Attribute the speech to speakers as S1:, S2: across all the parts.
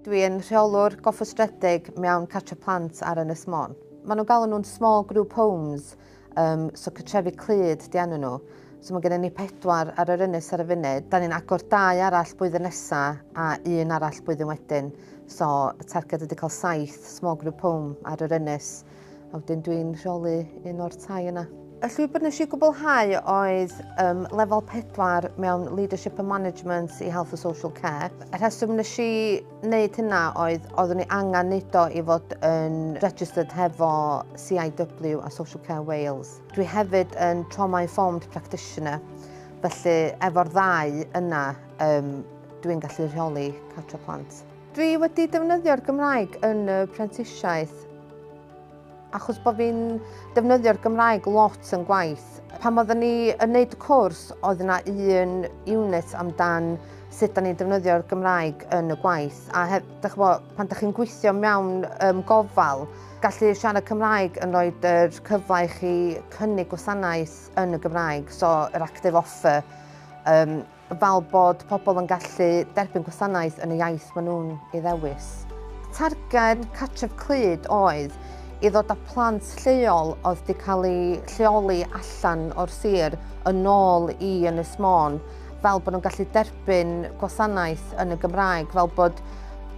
S1: Dwi yn rheolwr gofrestredig mewn cartre plant ar Ynys Môn. Mae nhw'n galw nhw'n small group homes, um, so cytrefi clyd di enw nhw. So mae gennym ni pedwar ar yr ynys ar y funud. Da ni'n agor dau arall blwyddyn nesa a un arall blwyddyn wedyn. So y targed ydy cael saith small group home ar yr ynys. a wedyn dwi'n rheoli un o'r tai yna. Y llwybr nes i gwblhau oedd um, lefel 4 mewn Leadership and Management i Health and Social Care. Y rheswm nes i wneud hynna oedd oeddwn i angen neud o i fod yn registered hefo CIW a Social Care Wales. Dwi hefyd yn Trauma Informed Practitioner, felly efo'r ddau yna um, dwi'n gallu rheoli cartre plant. Dwi wedi defnyddio'r Gymraeg yn y prentisiaeth achos bod fi'n defnyddio'r Gymraeg lot yn gwaith. Pan oeddwn ni yn wneud y cwrs, oedd yna un unit amdan sut da ni'n defnyddio'r Gymraeg yn y gwaith. A hef, dych bo, pan ydych chi'n gweithio mewn um, gofal, gallu siarad Cymraeg yn rhoi yr cyfle i chi cynnig gwasanaeth yn y Gymraeg, so yr active offer, um, fel bod pobl yn gallu derbyn gwasanaeth yn y iaith maen nhw'n ei ddewis. Targed Cartref Clyd oedd i ddod â plant lleol oedd wedi cael eu lleoli allan o'r sir yn ôl i Ynys Môn fel bod nhw'n gallu derbyn gwasanaeth yn y Gymraeg, fel bod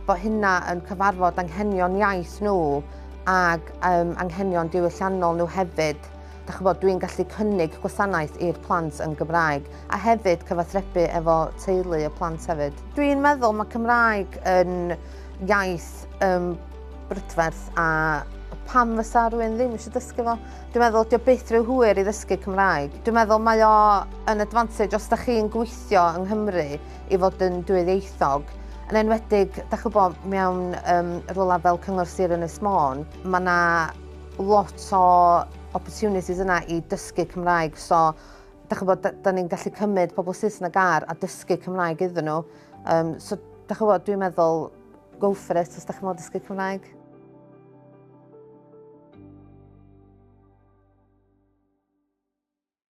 S1: bod hynna yn cyfarfod anghenion iaith nhw ac um, anghenion diwylliannol nhw hefyd. dach ch'bod, dwi'n gallu cynnig gwasanaeth i'r plant yn Gymraeg a hefyd cyfathrebu efo teulu y plant hefyd. Dwi'n meddwl mae Cymraeg yn iaith um, brydferth a pam fysa rhywun ddim eisiau dysgu fo. Dwi'n meddwl, dio byth rhyw hwyr i ddysgu Cymraeg. Dwi'n meddwl mae o yn advantage os da chi'n gweithio yng Nghymru i fod yn dwyieithog. Yn enwedig, da chi'n gwybod, mewn um, rolau fel Cyngor Sir Ynys Môn, mae yna lot o opportunities yna i dysgu Cymraeg. So, da chi'n bod, da ni'n gallu cymryd pobl Saesneg ar a dysgu Cymraeg iddyn nhw. Um, so, da chi'n bod, dwi'n meddwl, go for it os da chi'n bod dysgu Cymraeg.